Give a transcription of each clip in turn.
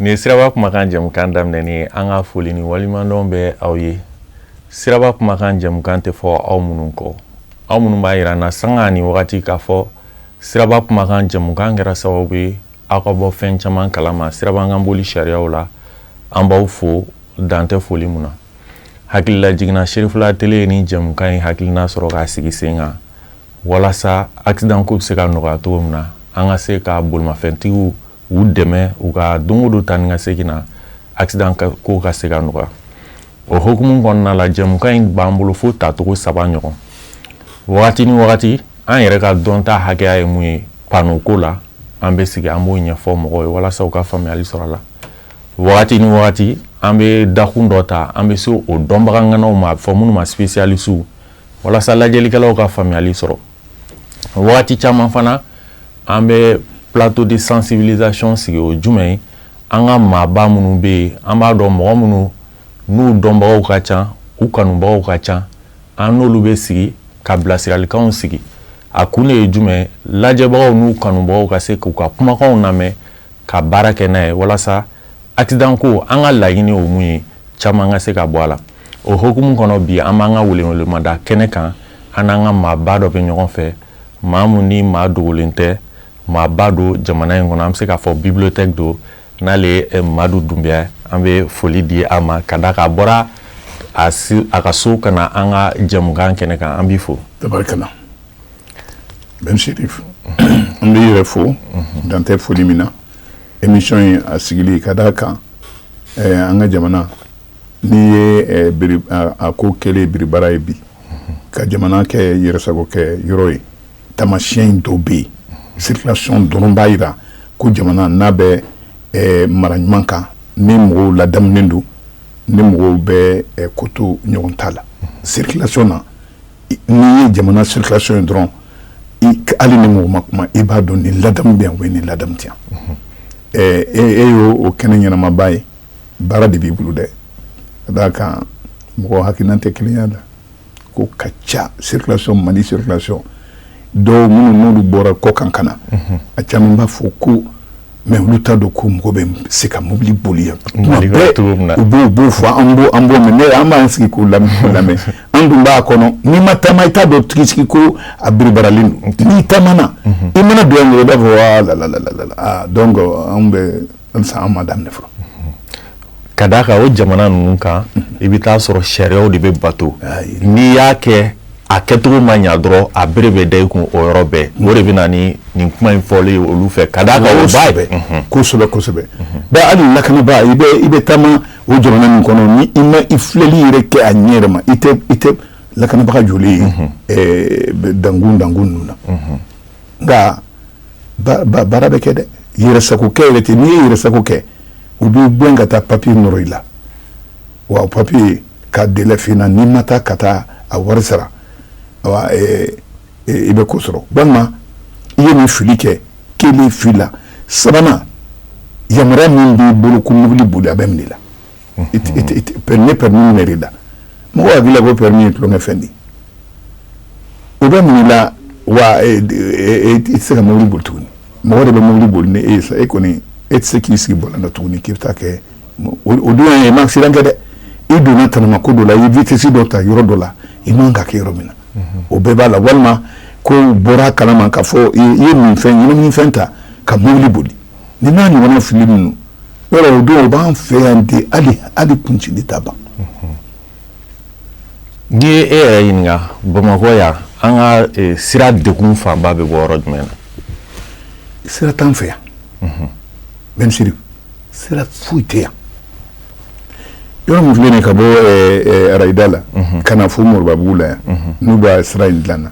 Nin siraba kumakan jamukan daminɛ an ka foli ni waleɲumandɔn bɛ aw ye siraba kumakan jamukan tɛ fɔ aw minnu kɔ aw minnu b'a jira an na sanga ni wagati k'a fɔ Siraba kumakan jamukan kɛra sababu ye aw ka bɔ fɛn caman kalama siraba kan boli sariyaw la an b'aw fo dan tɛ foli min na hakililajigin na Cherifla TV ye nin jamukan in hakilinan sɔrɔ k'a sigi sen kan walasa accident ko bɛ se ka nɔgɔya cogo min na an ka se ka bolimafɛntigiw dɛmɛ u ka don o don taa ni ka segin na accident ko ka se ka nɔgɔya o hukumu kɔnɔna la jamukan in b'an bolo fo tacogo saba ɲɔgɔn wagati ni wagati an yɛrɛ ka dɔnta hakɛya ye mun ye panneau ko la an bɛ sigi an b'o ɲɛfɔ mɔgɔw ye walasa u ka faamuyali sɔrɔ a la wagati ni wagati an bɛ dakun dɔ ta an bɛ se o dɔnbaga ŋanaw ma a bɛ fɔ minnu ma spécialistes walasa lajɛlikɛlaw ka faamuyali sɔrɔ wagati caman fana an bɛ plateau de sensibilisation sigi o ye jumɛn ye an ka maaba minnu bɛ yen an b'a dɔn mɔgɔ minnu n'u dɔnbagaw ka ca u kanubagaw ka ca an n'olu bɛ sigi ka bilasiralikanw sigi a kun de ye jumɛn lajɛbagaw n'u kanubagaw ka se k'u ka kumakanw lamɛn ka baara kɛ n'a ye walasa accident ko an ka laɲini o mun ye caman ka se ka bɔ a la o hukumu kɔnɔ bi an b'an ka welewelemada kɛnɛ kan an n'an ka maaba dɔ bɛ ɲɔgɔn fɛ maa min ni maa dogolen tɛ maaba don jamana in kɔnɔ an bɛ se k'a fɔ bibliothèque don n'ale ye madu dunbiya an bɛ foli di a ma ka d'a kan a bɔra a ka so ka na an ka jamukan kɛnɛ kan an b'i fo tari kana na n se fo an b'i yɛrɛ fo dan tɛ foli min na émission ye a sigili ka da a kan an ka jamana n'i ye a ko kɛlen biribara ye bi ka jamana kɛ yɛrɛsago kɛ yɔrɔ ye taamasiɲɛ in dɔw bɛ yen circulation dɔrɔn b'a jira ko jamana n'a bɛ eh, mara ɲuman kan ni mɔgɔw ladamunen don ni mɔgɔw bɛ eh, koto ɲɔgɔn ta la circulation na n'i ye jamana circulation ye dɔrɔn hali ni mɔgɔ ma kuma i b'a dɔn ni ladamu bɛ yan o ye ni ladamu tɛ yan eh, e, e y'o o kɛnɛ ɲɛnamaba ye baara de b'i bolo dɛ ka d'a kan mɔgɔ hakilinan tɛ kelen y'a la ko ka ca circulation mali circulation dɔw minnu n'olu bɔra kɔkan ka na mhm. a caman b'a fɔ ko mais olu t'a dɔn ko mɔgɔ bɛ se ka mobili boli yan u b'o b'o fɔ an b'o an b'o mɛn ne an b'an sigi k'o lamɛn an dun b'a kɔnɔ n'i ma taama i t'a dɔn tigitigi ko a biribaralen don n'i taamana mhm. i mana don yan dɔrɔn i b'a fɔ wa la la la la la donc an bɛ an ma daminɛ fɔlɔ ka d'a kan o jamana ninnu kan i bɛ t'a sɔrɔ sariyaw de bɛ bato n'i y'a kɛ a kɛcogo ma ɲɛ dɔrɔn a bere bɛ da i kun o yɔrɔ bɛɛ o de bɛ na ni nin kuma in fɔli ye olu fɛ ka d'a kan o ba bɛɛ kosɛbɛ kosɛbɛ bɛɛ hali lakanabaa i bɛ i bɛ taama o jamana min kɔnɔ ni i ma i filɛli yɛrɛ kɛ a ɲɛ yɛrɛ ma i tɛ i tɛ lakanabaga jɔlen ye dankun dankun ninnu na nka baara bɛ kɛ dɛ yɛrɛsakokɛ yɛrɛ tɛ yen n'i ye yɛrɛsako kɛ u b'i gɛn ka taa papiye nɔrɔ i la wa papiye ka délai fin na n'i ma taa ka taa a wari sara i bɛ ko sɔrɔ walima i ye nin fili kɛ kelen fila sabanan yamaruya min b'i bolo ko mobili boli a bɛ minɛ i la ne permis yɛrɛ da mɔgɔ a bɛ ko permis ye tulon fɛn di o bɛ minɛ i la wa tɛ se ka mobili boli tuguni mɔgɔ de bɛ mobili boli e sa e kɔni e tɛ se k'i sigi volant la tuguni k'i bɛ taa kɛ o dun ye ma siran kɛ dɛ i donna tma ko dɔ la i vitɛsi dɔ ta yɔrɔ dɔ la i man k'a kɛ yɔrɔ min na o bɛɛ b'a la walima ko bɔra kala k'a fɔ i ye minfɛn minnifɛn ta ka mobili boli nin n'a ɲɔgɔnna fili minnu yɔrɔ o dun o b'an fɛ yan de hali hali kuncili ta ban n'i ye e yɛrɛ ɲininka bamakɔ yan an ka eh, sira degun fanba bɛ bɔ yɔrɔ jumɛn na sira t'an fɛ yan bien sûr sira foyi tɛ yan Yɔrɔ min filɛ ka bɔ rayida la ka na fo moribabugu la yan n'u bɛ sira in dilan na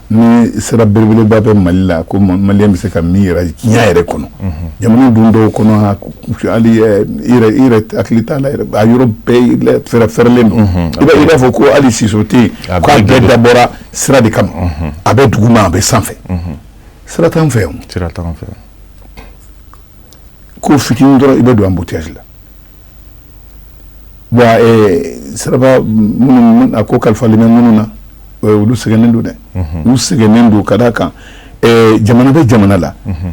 ni sira belebeleba bɛ mali la ko mali bɛ se ka min yira diɲɛ yɛrɛ kɔnɔ jamana dun dɔw kɔnɔ hakili t'a la yɔrɔ bɛɛ fɛrɛ fɛrɛlen don i i b'a fɔ ko hali siso tɛ yen k'a bɛɛ dabɔra sira de kama a bɛ dugu ma a bɛ sanfɛ sira t'an fɛ fɛ ko fitinin dɔrɔn i bɛ don embouteillage la bon eh, siraba minnu a ko kalifalen bɛ minnu na eh, olu sɛgɛnnen don dɛ mhm. olu sɛgɛnnen don ka d'a kan eh, jamana bɛ jamana la mhm.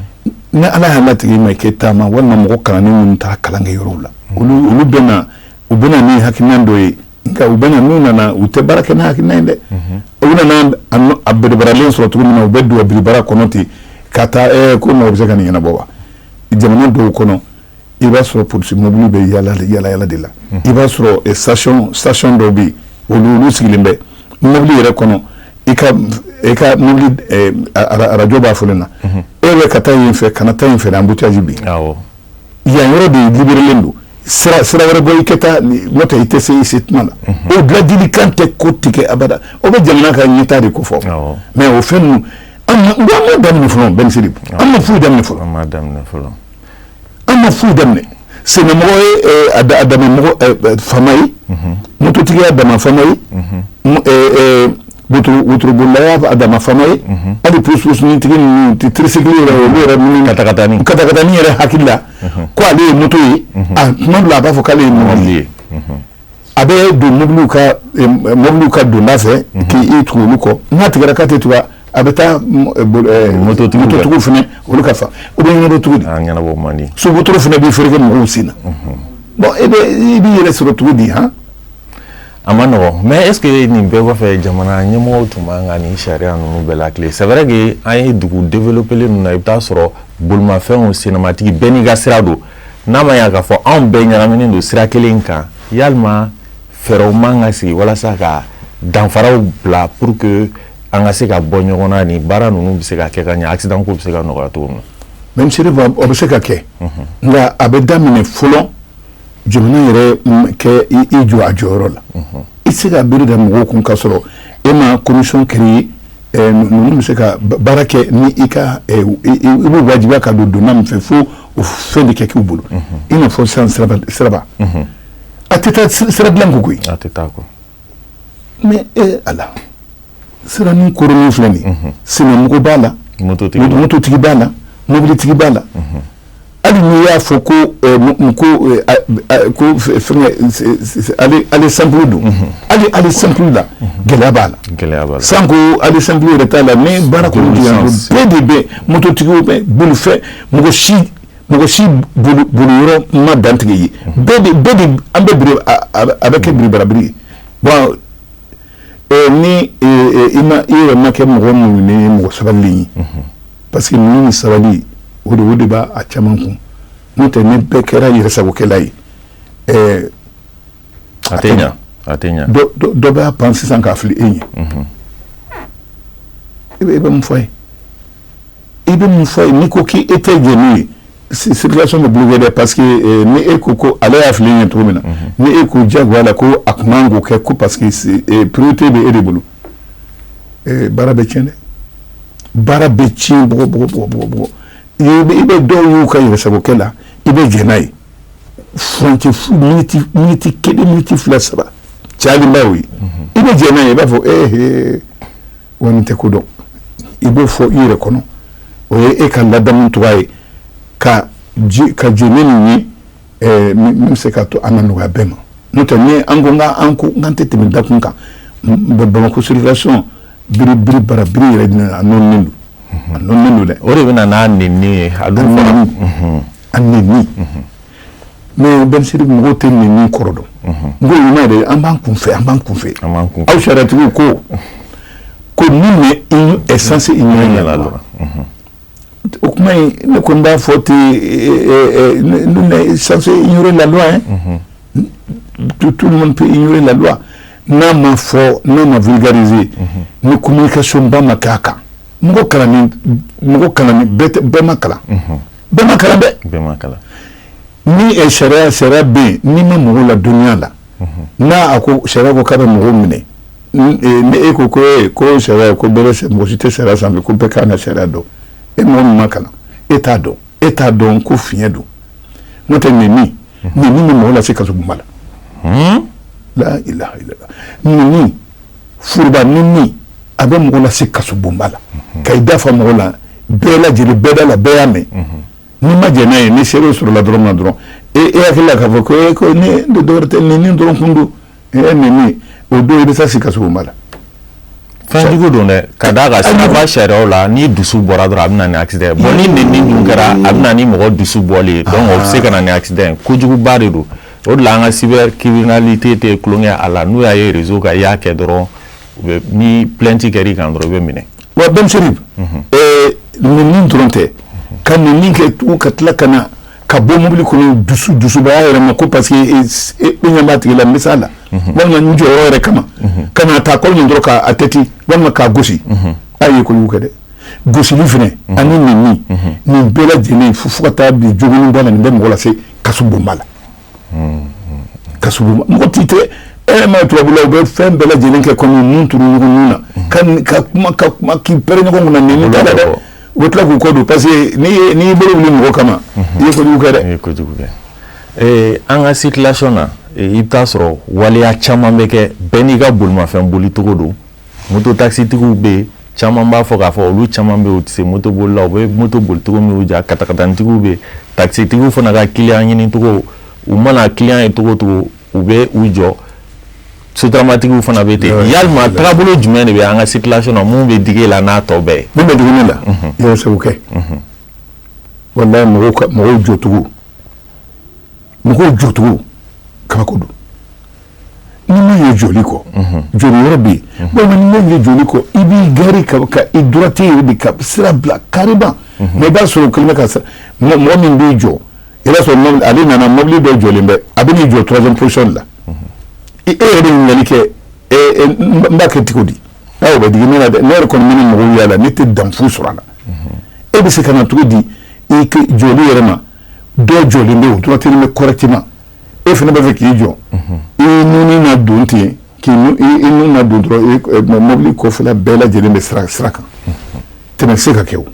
ni ala y'a latigɛ i man'i kɛ taama walima mɔgɔ kalannen minnu taara kalan kɛ yɔrɔw la mhm. olu bɛna u bɛna ni hakilina dɔ ye nka u bɛ na n'u nana u tɛ baara kɛ n'a hakilina ye dɛ u nana a biribaralen sɔrɔ cogo min na u bɛ don biribara kɔnɔ ten ka taa ɛ ko maaw bɛ se ka nin ɲɛnabɔ wa jamana dɔw kɔnɔ i b'a sɔrɔ polisi mobili bɛ yaa yaa yaala de la i b'a sɔrɔ sa sati dɔw bɛ yen olu olu sigilen bɛ mobili yɛrɛ kɔnɔ i ka arajo b'a fɔ ni e bɛ ka taa in fɛ kana taa in fɛ anbuteyazi bɛ yan yɔrɔ de liberelen don sira wɛrɛ bɔ i ka taa nɔntɛ i tɛ se i se tuma na o laadilikan tɛ kɔtigɛ abada o bɛ jamana ka ɲɛtaa de kofɔ mɛ o fɛn ninnu an m'a daminɛ fɔlɔ bien sûr an ma foyi daminɛ fɔlɔ an ma foyi daminɛ sennamɔgɔ y'a dama faama ye mototigi y'a dama faama ye wotorobolila y'a dama faama ye hali tirisiklitigi ninnu tirisikli yɛrɛ hakili la ko ale ye moto ye a tuma dɔ la a b'a fɔ k'ale ye mɔgɔ ye a bɛ don mɔbili ka mɔbiliw ka donda fɛ k'i tugu olu kɔ n'a tɛ se ka tɛmɛ tugun a bɛ taa mototigiw fana olu ka fa u bɛ ɲɛ tugu sotu fana bɛ fɛrɛke mɔgɔw sen na bɔn i b'i yɛrɛ sɔrɔ cogo di a man nɔgɔ mɛ est-ce que nin bɛɛ kɔfɛ jamana ɲɛmɔgɔw tun man kan ka nin sariya ninnu bɛɛ lati sɛɛrɛ de an ye dugu developelen ninnu na i bɛ t'a sɔrɔ bolimafɛnw sennamatigi bɛɛ n'i ka sira don n'a ma y'a ka fɔ anw bɛɛ ɲagaminen don sira kelen kan yala fɛɛrɛw man kan ka sigi walasa ka danfaraw bila pour que an ka se ka bɔ ɲɔgɔn na nin baara ninnu bɛ se ka kɛ ka ɲɛ asi bɛ se ka nɔgɔya cogo min na mɛ se bɛ se ka kɛ nka a bɛ daminɛ fɔlɔ jamana yɛrɛ ka i jɔ a jɔyɔrɔ la i tɛ se ka bere da mɔgɔw kun ka sɔrɔ i ma kɔndisɔn keree ninnu bɛ se ka baara kɛ ni i ka i b'u wajibiya ka don donda min fɛ fo o fɛn de kɛ k'u bolo i n'a fɔ san sira a tɛ taa sira dilan kɔ koyi a tɛ taa mɛ e a la siranin kɔrɔ min filɛ nin sennamɔgɔ b'a la mototigi b'a la mɔbilitigi b'a la hali n'i y'a fɔ ko ko aller simple don hali aller simple la gɛlɛya b'a la sanko aller simple yɛrɛ t'a la ni baara ko bɛɛ de bɛ mototigiw bɛ bolofɛ mɔgɔ si mɔgɔ si yɔrɔ ma dantigɛ yen an bɛɛ a bɛ kɛ biribarabiri ye bɔn ni i yɛrɛ ma kɛ mɔgɔ muɲunen mɔgɔ sabalilen ye parce que muɲu ni sabali o de o de b'a a caman kun n'o tɛ ni bɛɛ kɛra yɛrɛsagokɛla ye ɛɛ a tɛ ɲa a tɛ ɲa dɔ b'a pan sisan k'a fili e ye i bɛ mun fɔ ye i bɛ mun fɔ ye n'i ko k'i e tɛ jɛ n'o ye circulation bɛ bloquer dɛ parce que eh, ni e ko ko ale y'a fili ɲɛ cogo min na mhm. ni e ko diyagoya la ko a tun man kan k'o kɛ ko parce que eh, priorité bɛ e de bolo eh, baara bɛ tiɲɛ dɛ baara bɛ tiɲɛ bon i bɛ dɔw y'u ka yɛrɛsagokɛ la i bɛ jɛn n'a ye ftiiniti kelenti fila saba caba ye i bɛ jɛn n'a ye i b'a fɔ e wa nin tɛ ko dɔn i b'o fɔ i yɛrɛ kɔnɔ o ye e ka ladamu cogo ye ka ka jɛn ni min ye eh, min bɛ se ka to an ka nɔgɔya bɛɛ ma n'o tɛ ni an ko n ka an ko n k'an tɛ tɛmɛ dakun kan bamakɔ circulation biri biri bara biri yɛrɛ de a nɔɔninen don a nɔɔninen don dɛ o de bɛ na n'a nenni ye a dun fana a nenni mɛ Ben Chérif mɔgɔw tɛ nenni kɔrɔ dɔn n ko ɲuman yɛrɛ an b'an kun fɛ an b'an kun fɛ aw sariyatigiw ko ko nul n'est censé ignorer la loi o kuma in ne ko n b'a fɔ ten nul n'est censé ignorer la loi eh tout tout le monde peut ignorer la loi n'a ma fɔ n'a ma vulgariser ni communication ba ma kɛ a kan mɔgɔ kalannen mɔgɔ kalannen bɛɛ tɛ bɛɛ ma kalan bɛɛ ma kalan dɛ bɛɛ ma kalan ni sariya sariya bɛ yen n'i ma mɔgɔw ladɔnniya a la n'a ko sariya ko k'a bɛ mɔgɔw minɛ ni e ko ko e ko mɔgɔ si tɛ sariya san ko bɛɛ ka kan ka sariya dɔn e ma ma kalan e t'a dɔn e t'a dɔn ko fiɲɛ don n'o tɛ nenni nenni bɛ mɔgɔ lase se ka ma la la nenni foroba nenni a bɛ mɔgɔ lase kasobonba la ka i da fa mɔgɔw la bɛɛ lajɛlen bɛɛda la bɛɛ y'a mɛn Ni ma jɛn n'a ye ni seere sɔrɔla dɔrɔn ma dɔrɔn e e hakili k'a fɔ ko e ko dɔgɔ tɛ nenni dɔrɔn tun don e ni o don i bɛ se kasobonba la fɛnjugu don dɛ ka da la siraba sariya la ni dusu bɔra dɔrɔn a bɛ na ati dɛ bɔn ni nenni dun kɛra a bɛ ni mɔgɔ dusu bɔlen don o bɛ se ka na ati dɛ kojuguba de don o de la an ka cybercriminalité tɛ tulon kɛ a la n'u y'a ye réseau kan i y'a kɛ dɔrɔn ni plainte kɛ i kan dɔrɔn i bɛ minɛ wa Ben Chérif nenni dɔrɔn tɛ ka nenni kɛ tugu ka tila ka na ka bɔ mobili kɔnɔ dusu dusubaya yɛrɛ ma ko parce que ɲɛ tigila mi la walima n jɔyɔrɔ yɛrɛ kama ka na taa ko nin k'a tɛ ten walima k'a gosi aw ye kɔni kɛ dɛ gosili fana ani nenni nin bɛɛ lajɛlen fo fo ka taa bi joginniba la nin bɛ mɔgɔ lase kasobonba la ka mɔgɔ tɛ tɛ e ma tubabu u bɛ fɛn bɛɛ lajɛlen kɛ kɔmi nun turu ɲɔgɔn na ka ka kuma ka kuma k'i pɛrɛn ɲɔgɔn kunna ni min dɛ u tila k'u kɔ don parce que n'i bolo wili mɔgɔ kama i ye kojugu kɛ dɛ kojugu kɛ an ka circulation na i bɛ taa a sɔrɔ waleya caman bɛ kɛ bɛn n'i ka bolimafɛn bolicogo don moto takisitigiw bɛ yen caman b'a fɔ k'a fɔ olu caman bɛ u tɛ se moto boli la u bɛ moto bolicogo min katakatanintigiw bɛ takisitigiw fana ka kiliyan ɲinicogo u mana kiliyan ye cogo o cogo u bɛ u jɔ sotaramatigiw fana bɛ ten ya tagabolo jumɛn de bɛ an ka circulation minnu bɛ dege la n'a tɔ bɛɛ bɛ dumuni la mɔgɔw segu kɛ wala mɔgɔw jɔcogo mɔgɔw jɔcogo kabako don Ni min ye jɔli ko jɔli yɔrɔ bɛ yen bamanan min ye jɔli ko i b'i gari ka ka i droite yɛrɛ de ka sira bila kari mɛ i b'a sɔrɔ kɛmɛ ka sa mɛ mɔgɔ min b'i jɔ i b'a sɔrɔ ale nana mɔbili bɛ jɔlen bɛ a bɛ na i jɔ troisième position la i e yɛrɛ de ɲali kɛ n ba kɛ cogo di aw bɛ di ne dɛ ne yɛrɛ kɔni min mɔgɔw yala la ne tɛ danfu sɔrɔ a la e bɛ se ka na cogo di i jɔli yɛrɛ ma dɔ jɔlen bɛ o duti bɛ correctement e fana b'a fɛ k'i jɔ i ye nun don ten k'i nun don dɔrɔn mobili kɔfɛla bɛɛ lajɛlen bɛ sira sira kan tɛmɛ se ka kɛ o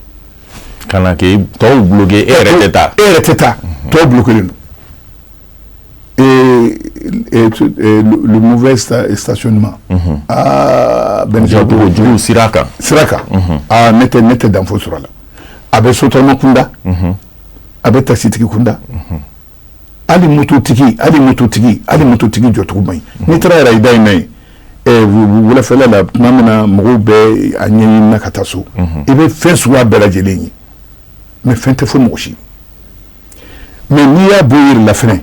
ka na kɛ tɔw bolo e yɛrɛ tɛ taa e yɛrɛ tɛ taa tɔw bolo kelen don mauvais stationnement aa bɛn jugu sira kan sira kan aaa ne tɛ ne tɛ danfo sɔrɔ a la a bɛ sotarama kunda a bɛ takisitigi kunda hali mototigi hali mototigi hali mototigi jɔcogo man ɲi mm. n'i taara yɛrɛ Rayida in na yen wulafɛla la tuma min na mɔgɔw bɛ a ɲɛɲini na ka taa so mm-hmm. i bɛ fɛn suguya bɛɛ lajɛlen ye mɛ fɛn tɛ fɔ mɔgɔ si ma n'i y'a bɔ yɔrɔ la fɛnɛ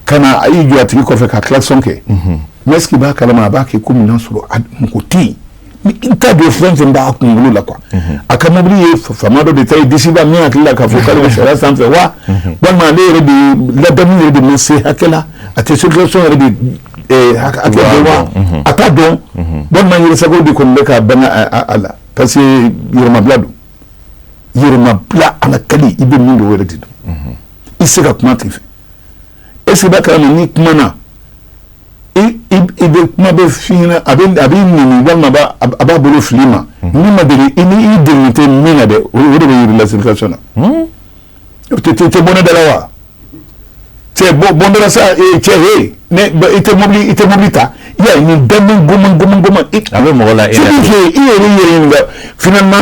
ka na a y'i jɔ a tigi kɔfɛ ka kilasɔn kɛ mɛ mm-hmm. est ce que i b'a kalama a b'a kɛ kɔmi i n'a sɔrɔ mɔgɔ tɛ yen n t'a dɔn fɛn fɛn b'a kunkolo la quoi mhm. a ka mobili ye faama dɔ de ta ye disi b'a min hakili la k'a fɔ k'ale bɛ sariya sanfɛ wa mhm. walima ale yɛrɛ de ladamu yɛrɛ de ma se hakɛ la a tɛ circulation yɛrɛ de eh, hakɛ dɔn wa mhm. a t'a dɔn walima yɛrɛsago de kɔni bɛ ka bɛn a la parce que yɛrɛmabila don yɛrɛmabila a la kali i bɛ min dɔn o yɛrɛ de don i tɛ se ka kuma a tigi fɛ est ce que i b'a kalama n'i kumana i bɛ kuma bɛ fi a b'i neni walima a b'a bolo fili i ma ni ma deli i ni i deli tɛ min na dɛ o de bɛ yira i la circulation na o tɛ tɛ bɔ ne da la wa cɛ bɔ n da la sa cɛ he i tɛ mobili i tɛ mobili ta ya nin da g g a bɛ mɔgɔ la e i yɛrɛ yɛrɛ f na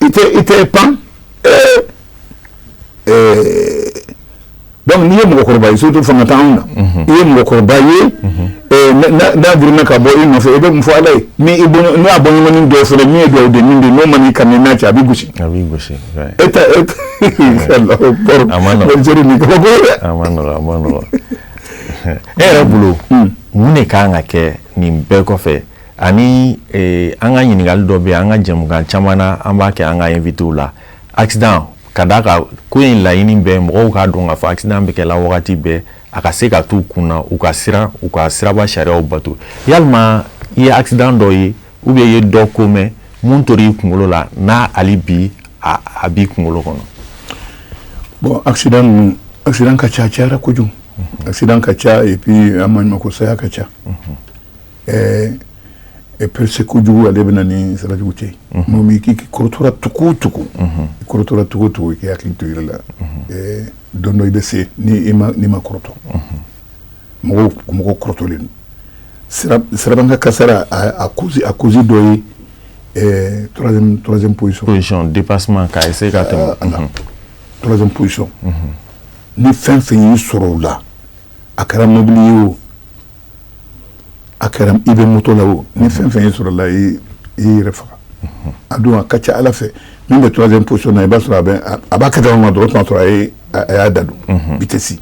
i tɛ i tɛ pan ee ee donc n'i ye mɔgɔkɔrɔba ye surtout fanga t'anw na i ye mɔgɔkɔrɔba ye ee n'a girinna ka bɔ i nɔfɛ i bɛ mun fɔ ala ye ni i bɔɲɔgɔn n'a bɔɲɔgɔnnin dɔw fana min ye duwawu den min bɛ n'o man'i kami n'a cɛ a bɛ gosi a b'i gosi e ta e ta alahu akbar a man nɔgɔn Algérie nin kabako ye dɛ a man nɔgɔn a man nɔgɔn e yɛrɛ bolo mun de kan ka kɛ nin bɛɛ kɔfɛ Ani an ka ɲininkakali dɔ bɛ an ka jamukan caman an b'a kɛ an ka invitéw la a ka da ka ko in laɲini bɛ mɔgɔw k'a dɔn k'a fɔ an bɛ kɛ la wagati bɛɛ a ka se ka taa u kunna u ka siran u ka siraba sariya bato yalima i ye accident dɔ ye ou bien i ye dɔ ko mɛn min tor'i kunkolo la n'a hali bi a b'i kunkolo kɔnɔ bon a a ka ca cayara kojugu a ka ca bi an ma ɲuman ko saya ka ca ɛɛ pressé kojugu ale bɛ na ni sarajugu cɛ n'o m'i k'i kɔrɔtɔra tuku tuku i kɔrɔtɔra tuku tuku i k'i hakili to yɛrɛ la ɛɛ don dɔ i bɛ se ni ma n'i ma kɔrɔtɔ mɔgɔw mɔgɔ kɔrɔtɔlen don sirabakan kasara a cause a cause dɔ ye ɛɛ troisième troisième position position dépassement k'a essayer ka tɛmɛ troisième position ni fɛn fɛn y'i sɔrɔ o la a kɛra mobili ye o a kɛra i bɛ moto la o ni fɛn fɛn y'i sɔrɔ o la i yɛrɛ faga a don a ka ca ala fɛ min bɛ troisième position na i b'a sɔrɔ a b'a kɛ ma dɔrɔn t'a sɔrɔ a y'a da don i tɛ se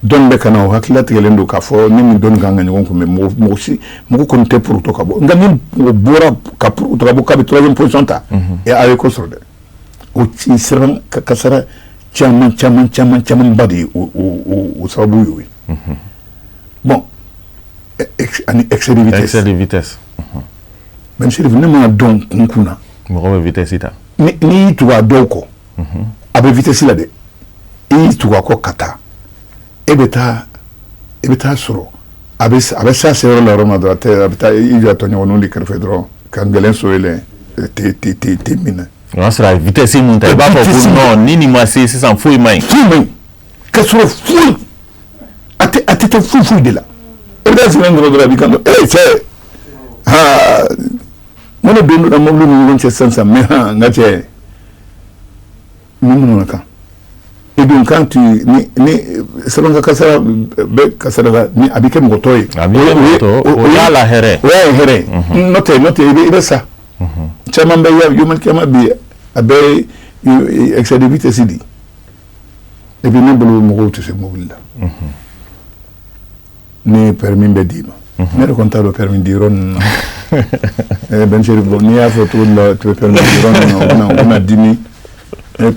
dɔ bɛ ka na o hakili latigɛlen don k'a fɔ ni min dɔn ka ka ɲɔgɔn kunbɛn mɔgɔ kɔni tɛ poroto ka bɔ nka bɔra ka ptobu ka bɛ troisième position ta a ye ko sɔrɔ dɛ o sirakan kasara caman caman caman camanba de ye o sababu ye o ye bon ani excès de vitesse mɛsiriri ne m'a dɔn kun kun na mɔgɔ bɛ vitesse ta n'i y'i tugu a dɔw kɔ a bɛ vitesse la dɛ i y'i tugu a kɔ ka taa e bɛ taa i bɛ taa sɔrɔ a bɛ sa se yɔrɔ la yɔrɔ ma dɔrɔn a bɛ taa i jɔ tɔɲɔgɔn de kɛrɛfɛ dɔrɔn ka gɛlɛn so yɛlɛ min na o y'a sɔrɔ a vitesse ta i b'a fɔ ni ni ma se sisan foyi ma foyi ka sɔrɔ foyi a a tɛ taa foyi foyi de la e bɛ sɛgɛn ɲɔgɔn dɔrɔn a bɛ kan e cɛ aa mɔnɛ don dɔ mɔbili ni ɲɔgɔn cɛ sisan mɛ n ka cɛ Mun minnu na kan i dun kan tu ni ni sɛbɛn ka kasara bɛ kasara la ni a bɛ kɛ mɔgɔtɔ ye a bɛ kɛ mɔgɔtɔ ye, o y'a la hɛrɛ o y'a ye hɛrɛ n'o tɛ n'o tɛ i bɛ i bɛ sa caman bɛ ya human caman bɛ yen a bɛɛ ye excès de vitesse de ye et puis ne bolo mɔgɔw tɛ se mobili la ni permis bɛ d'i ma ne yɛrɛ kɔni t'a dɔn permis di yɔrɔ ninnu na bɛn bɔ n'i y'a fɔ cogo to pɛ yɔrɔ dimi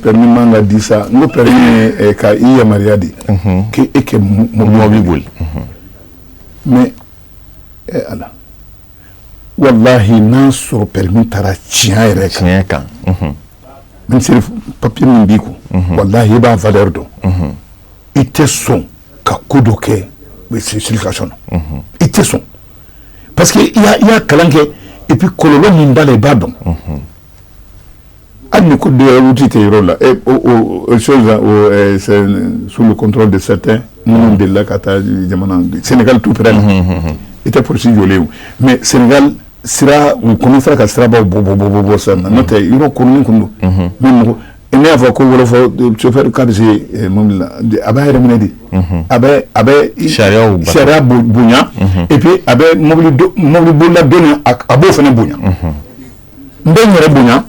permis man ka di sa n ko permis ka i yamaruya de k' e ka mɔbili boli mɛ e ala walahi n'a sɔrɔ permis tara tiɲɛ yɛrɛ tiɲɛ kan ni permis b'i kun walahi i b'a fan dɔ dɔn i tɛ sɔn ka ko dɔ kɛ ka sɔn i tɛ sɔn parce que i y'a kalan kɛ epi kɔlɔlɔ min b'a la i b'a dɔn hali ni ko tɛ tɛ yɔrɔ la sur le contrôle de certains minnu delila ka taa jamana Senegali tout près i tɛ polisi jɔlen mɛ Senegali sira u kɔni sera ka siraba bɔ bɔ bɔ bɔ sa na n'o tɛ yɔrɔ kolon tun don Ne y'a fɔ ko wɔlɔfɔ sofɛri ka bɛ se ma a b'a yɛrɛ minɛ de a bɛ sariya sariya bonya epi a bɛ mɔbilibolila dɔ nin a b'o fana bonya n bɛ n yɛrɛ bonya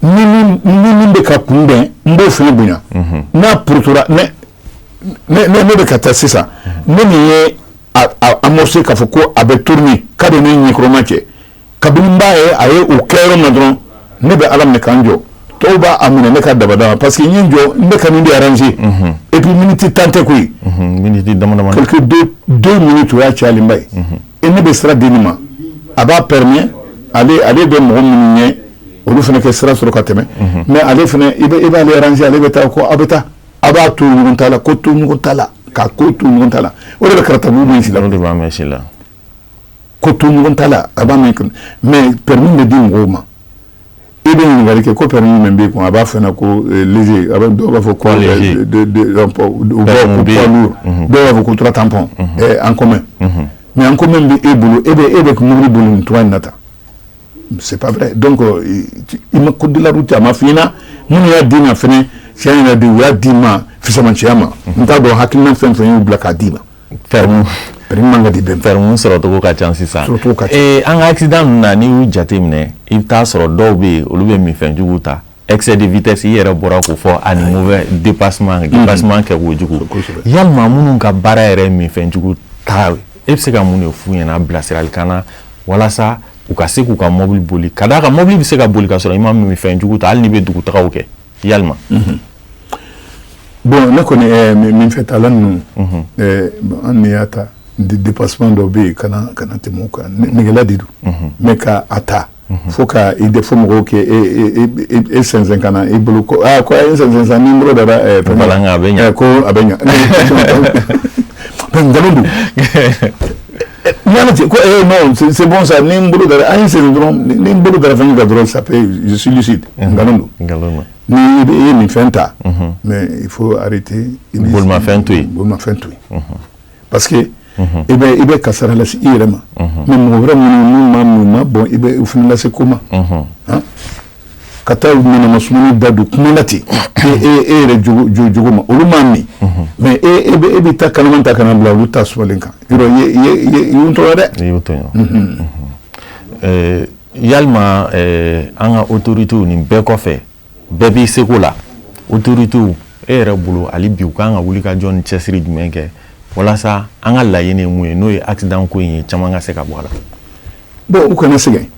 ni min bɛ ka n kunbɛn n b'o fana bonya n'a ptora ne bɛ ka taa sisan ne min ye amorcer k'a fɔ ko a bɛ tourner ka don ne ɲɛkɔrɔma cɛ kabini n b'a ye a ye o kɛ yɔrɔ min dɔrɔn ne b'a laminɛ ka n jɔ tɔw b'a a minɛ ne ka dabada parce que n ye n jɔ ne ka min bɛ ranze epi miniti tan tɛ koyi deux minutes o y'a cayalenba ye e ne bɛ sira di nin ma a b'a permet ale bɛ mɔgɔ minnu ɲɛ olu fana ka sira sɔrɔ ka tɛmɛ mɛ ale i e b'a ranze ale bɛ taa ko aw bɛ taa aw b'a to ɲɔgɔn ta la ko to ɲɔgɔn ta la ka ko to ɲɔgɔn ta la o de bɛ kɛra taa la ko to ɲɔgɔn ta la a ban mɛ permis bɛ di mɔgɔw ma e bɛ ɲininkakali kɛ ko permis b'e kun a b'a fɔ ko ze a dɔw b'a fɔ ko b'a fɔ ko tora tanp an kɔmɛ mɛ an ko min bɛ e bolo e e bɛ kun muru don tu in na tan se pa dɔn ko i ma kodila a ma f i na minnu y'a di ma f cɛ in yɛrɛ de u y'a d'i ma fisamanciya ma n t'a dɔn hakili fɛn fɛn y'u bila k'a d'i ma sɔrɔcogo ka ca sisan an ka accidents n'i y'u jate minɛ i bɛ t'a sɔrɔ dɔw bɛ yen olu bɛ minfɛn jugu ta excès de vitesse i yɛrɛ bɔra k'o fɔ ani kɛwalejuguya minnu ka baara yɛrɛ minfɛn jugu ta e bɛ se ka mun de f'u ɲɛna bilasirali kan na walasa u ka se k'u ka mɔbili boli k'a d'a kan mɔbili bɛ se ka boli ka sɔrɔ i ma minfɛn jugu ta hali n'i bɛ dugutaga kɛ yalima bɔn ne kɔni minfɛn tala ninnu an y'a ta dépassement dɔ bɛ yen kana tɛmɛ kan nɛgɛgela de don mais ka a ta fo ka i de fɔ mɔgɔw kɛ e sɛsɛn ka na e bolo ko a ye sen ni bolo da bɛ ko a bɛ ɲa nkalon don N ten ko ee c'est bon sa ni bolo an ye sen dɔrɔn ni bolo bɛ fɛn ka dɔrɔn salisi nkalon don n'i ye minfɛn ta mais il faut arrêter minfɛn to yen minfɛn to yen parce que i bɛ kasaara lase i yɛrɛ ma mais mɔgɔ wɛrɛ minnu ma bɔn i bɛ fɛn lase ko ma ka taa manamas da don kuma na ten ee e yɛrɛ jogo ma olu ma min mais e bɛ taa kala ta kana bila olu ta sɔlen kan tɔɔrɔ dɛ yalima an ka autoritéw nin bɛɛ kɔfɛ bɛɛ b'i seko la autoritéw e yɛrɛ bolo hali bi u k'an ka wuli ka jɔ ni cɛsiri jumɛn kɛ walasa an ka laɲini ye mun ye n'o ye aksidan ko in ye caman ka se ka bɔ la u kana sɛgɛn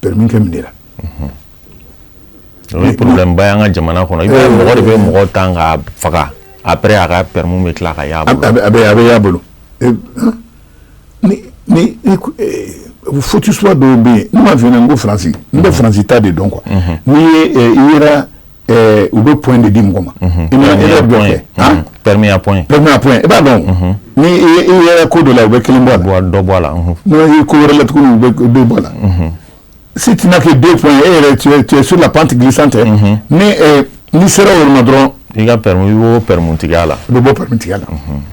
pɛrɛmu ko minɛ la problèmeba y'an ka jamana kɔnɔ i mɔgɔ de bɛ mɔgɔ tan ka faga après a ka pɛrɛmu bɛ tila ka a bɛ a bɛ' bolo futusu dɔw bɛ yen n b'a fɔ ko Faransi n bɛ Faransi ta de dɔn quoi n' i eh, u bɛ point de di mɔgɔ ma mhm. permis à points i b'a dɔn mhm. ni i yɛrɛ ko dɔ la u bɛ kelen bɔ la dɔ bɔ la mhm. n'o ko wɛrɛ la tuguni u bɛ dɔ bɔ la si tu n'as que deux points e yɛrɛ tu es tu es sur la pente glissante ni eh, n'i sera o ma dɔrɔn i ka pɛrɛmu i b'o pɛrɛmu tigɛ la i bɛ bɔ pɛrɛmu tigɛ la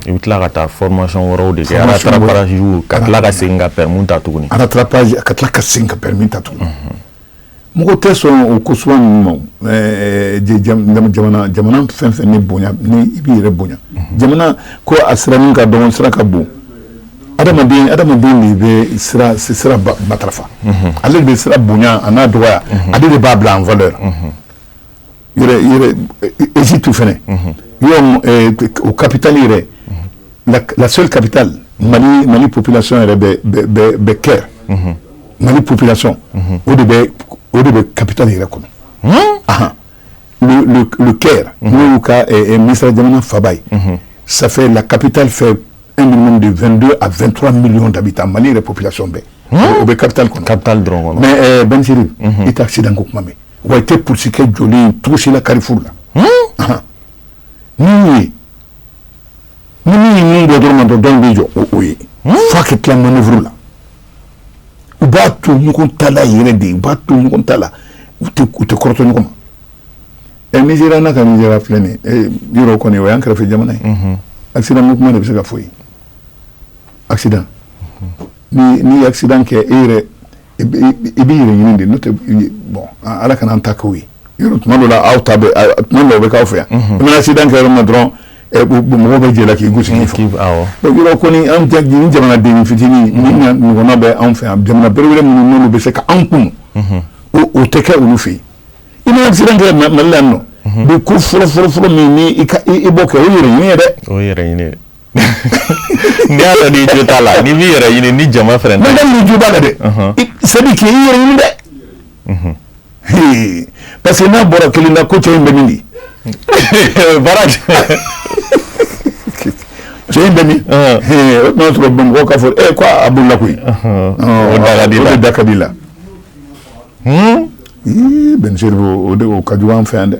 i bɛ tila ka taa formation wɛrɛw de kɛ rattrapage ka tila ka segin ka pɛrɛmu ta tuguni rattrapage ka tila ka segin ka pɛrɛmu ta tuguni Mɔgɔ tɛ sɔn o ko sugu ninnu ma jamana fɛn o fɛn ni bonya i b'i yɛrɛ bonya jamana ko a sira min ka dɔgɔ sira ka bon adamaden de bɛ sira matarafa ale de bɛ sira bonya a n'a dɔgɔya ale de b'a bila en valeur Égypte fana o kapitali yɛrɛ la seule kapitali mali mali population yɛrɛ bɛ Caire mali population o de bɛ o de bɛ kapitali yɛrɛ kɔnɔ le Caire n'o y'u ka Misira jamana faaba ye ça fait la capitale fait un minimum de 22 à 23 millions d'habitants mali yɛrɛ population bɛɛ o bɛ Caire kɔnɔ Caire dɔrɔn kɔnɔ mais bɛsiri i t'aksidan ko kuma mɛn wa i tɛ psikɛ jɔlen tosila karifuru la n ye ni min bɛ dɔrɔn dɔn dɔ bɛ jɔ o o ye fo a ka tila manœuvre la u b'a to ɲɔgɔn ta la yɛrɛ de u b'a to ɲɔgɔn ta la u tɛ kɔrɔtɔ ɲɔgɔn ma ɛ sera n' ka sera filɛ nin yɔrɔ kɔni o y'an kɛrɛfɛ jamana ye aksidan mun kuma de bɛ se ka fɔ ye aksidan n'i ye aksidan kɛ e yɛrɛ i b'i yɛrɛ ɲini de n'o tɛ bɔn ala kana an ta' ye tuma dɔ aw ta tuma dɔw bɛ'aw fɛ yan n'i bɛna aksidan kɛ yɔrɔ min dɔrɔn mɔgɔ bɛɛ jɛra k'i gosi yɔrɔ kɔni an jamana den fitinin ɲɔgɔn bɛ anw fɛ yan jamana bere minnu bɛ se ka anw kun o tɛ kɛ olu fɛ yen i aksidan kɛ mali la nɔ bi ko fɔlɔfɔlɔfɔlɔ min i b'a kɛ o ye yɛrɛ ɲini ye n'i y'a dɔn n'i jo t'a la n'i b'i yɛrɛ ɲini ni jama fɛnɛ tɛ. Madame n'i jo b'a la dɛ. Ɔnhɔn. I c'est à dire k'i yɛrɛ ɲini dɛ. Unhun. Hee parce que n'a bɔra kirin na ko cɛ in bɛ min di. Baara cɛ in bɛ min. Ɔnhɔn. Hee o tuma sɔrɔ Bamakɔ ka fɔ ee ko a bolila koyi. Ɔnhɔn. Ɔɔ, O da ka di la. O de da ka di la. Hun. Ii Bɛn Seribu o de o ka jugu an fɛ yan dɛ.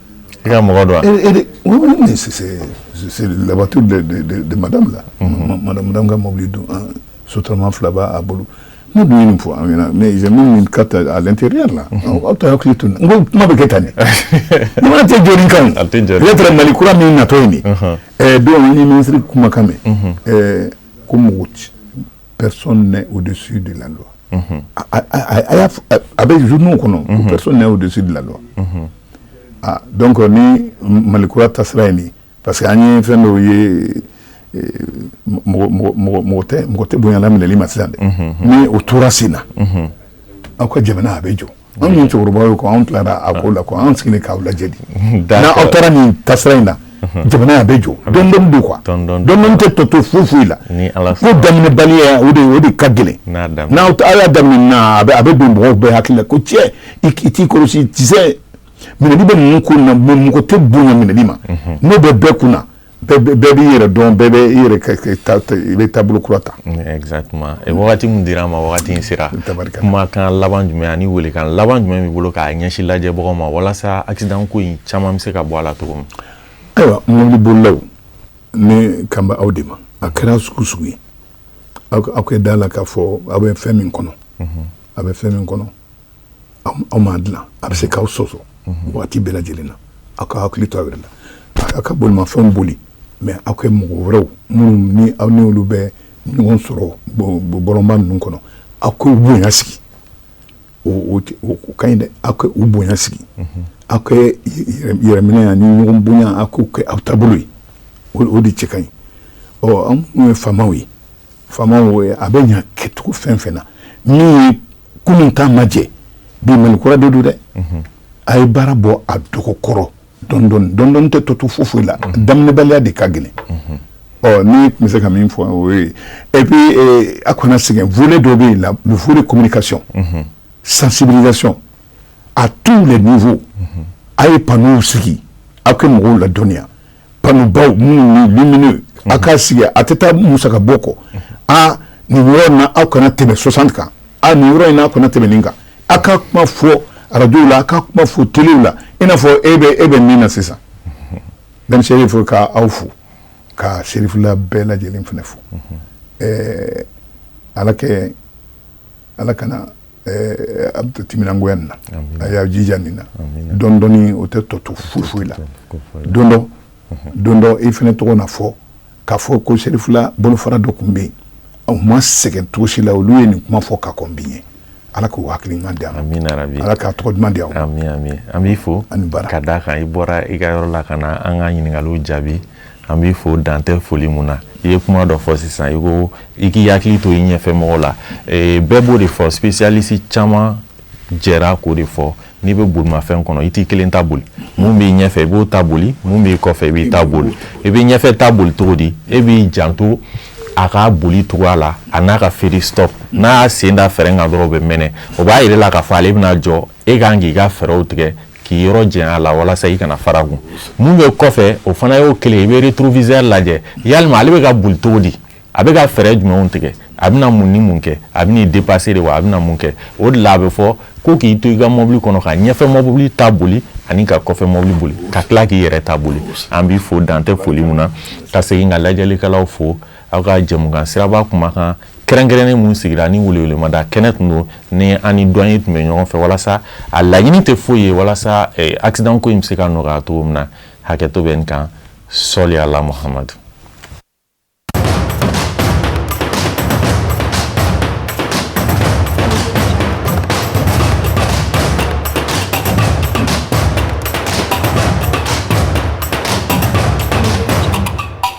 I ka mɔgɔ don la voiture de madame madame ka mɔbili don sotarama fila b' a bolo ne dun nin fɔ an mɛ à l'intérieur aw taa hakili tun n kuma bɛ kɛ tan nin jamana tɛ jɔ nin kan tɛ mali kura min natɔ nin don an ye minisiri kumakan mɛn ko mɔgɔ si pɛsɔn o de su de la a bɛ z kɔnɔ o de su de la aa dɔn kɔni ni mali kura ta sira yen parce que an ye fɛn dɔw ye mɔgɔ tɛ bonyayanla minɛli ma sisan dɛ ni o tora sen na aw ka jamana a bɛ jɔ anw ye cɛkɔrɔba ye ko anw tilara a ko la ko anw sigilen k'aw lajɛ de n'aw taara nin taasira in na jamana a bɛ jɔ dɔɔnin dɔɔnin don nka dɔɔnin dɔɔnin tɛ tɔ to foyi foyi la ko daminɛbaliya o de o de ka gɛlɛn n'aw aw y'a daminɛ na a bɛ a bɛ don mɔgɔw bɛɛ hakili la ko cɛ i t'i kɔlɔsi tisɛ minɛli bɛ ninnu ko na mɛ mɔgɔ tɛ bonya minɛli ma n'o bɛ bɛɛ kun na bɛɛ b'i yɛrɛ dɔn bɛɛ bɛ i i bɛ taabolo kura ta wagati min dira an ma wagati in sera kumakan laban jumɛn ani welekan laban jumɛn b'i bolo k'a ɲɛsin lajɛbagaw ma walasa aksidan ko in caman bɛ se ka bɔ a la cogo min ayiwa mɔbili bolilaw ne kan bɛ aw de ma a kɛra sugu o sugu ye aw ka da a la k'a fɔ aw bɛ fɛn min kɔnɔ a bɛ fɛn min kɔnɔ aw ma dilan a bɛ se k'aw sɔsɔ waati bɛɛ lajɛlen na aw k'aw hakili to aw yɛrɛ la aw ka bolimafɛnw boli mais aw kɛ mɔgɔ wɛrɛw minnu ni aw ni olu bɛ ɲɔgɔn sɔrɔ bɔlɔnba ninnu kɔnɔ aw k'u bonya sigi ka ɲi dɛ aw k'u bonya sigi aw yɛrɛminɛ ani ɲɔgɔn bonya aw k'o kɛ aw taabolo ye o de cɛ ka ɲi ɔ anw ye faamaw ye faama a bɛ ɲɛ kɛcogo fɛn fɛn na min kunun k'a ma jɛ bi mali kura de don dɛ a ye baara bɔ a dɔgɔ kɔrɔ dɔɔni dɔɔni tɛ tɔ to foyi foyi la daminɛbaliya de ka gɛlɛn ɔ ne tun bɛ se ka min fɔ et puis a kana sɛgɛn volet dɔ b'a la le volet communication sensibilisation à tous les niveaux a ye panneauw sigi aw ka mɔgɔw ladɔnniya panneaubaw minnu lumineux a k'a sigi a tɛ taa musaka bɔ kɔ aa nin yɔrɔ in aw kana tɛmɛ soixante kan a nin yɔrɔ in n'a kana tɛmɛ nin kan aw ka kuma fɔ arajow la a ka kuma fɔ telew la i n'a fɔ e bɛ e bɛ min na sisan dani serifu k'aw fo ka serifula bɛɛ lajɛ lajɛlen fana fo ɛɛ ala kɛ ala kana eh, a bɛ timinangoya nin na a y'a jija nin na dɔɔni dɔɔni o tɛ tɔ to foyi foyi la don dɔ don dɔ i fana tɔgɔ na fɔ k'a fɔ ko serifula bolofara dɔ tun bɛ yen u ma sɛgɛn cogo si la olu ye nin kuma fɔ ka kɔn bi ɲɛ ala k'u hakili ɲuman di an ala k'a tɔgɔ duman di an an b'i fo ka d'a kan i bɔra i ka yɔrɔ la ka na an ka ɲininkaliw jaabi an b'i fo dan tɛ foli min na i ye kuma dɔ fɔ sisan i ko i k'i hakili to i ɲɛfɛ mɔgɔ la eh, bɛɛ b'o de fɔ spécialiste caman jɛra k'o de fɔ n'i bɛ bolimafɛn kɔnɔ i t'i kelen ta boli min b'i ɲɛfɛ i b'o ta boli min b'i kɔfɛ i b'o ta boli i b'i ɲɛfɛ ta boli cogo di e b'i janto a ka boli cogoya la an'a ka feu de stop n'a y'a sen da frein kan dɔrɔn o bɛ mɛnɛ o b'a yira i la k'a fɔ ale bɛna jɔ e ka kan k'i ka fɛɛrɛw tigɛ k'i yɔrɔ janya a la walasa i kana fara a kun min bɛ kɔfɛ o fana y'o kelen i bɛ rétroviseur lajɛ yala ale bɛ ka boli cogo di a bɛ ka fɛɛrɛ jumɛnw tigɛ a bɛna mun ni mun kɛ a bɛ dépasser de wa a bɛna mun kɛ o de la a bɛ fɔ ko k'i to i ka mɔbili kɔnɔ ka ɲɛfɛ mɔbili ta boli ani ka kɔfɛ mɔbili boli ka tila k'i yɛrɛ ta boli an b'i fo dan tɛ foli min na ka segin ka lajɛlikɛlaw fo aw ka jɛmukan siraba kuma kan kɛrɛnkɛrɛnnen min sigira ni welewelemada kɛnɛ tun don ni an ni doyen tun bɛ ɲɔgɔn fɛ walasa a laɲini tɛ foyi ye walasa eh, accident ko in bɛ se ka nɔgɔya cogo min na hakɛto bɛ n kan sali ala muhamadu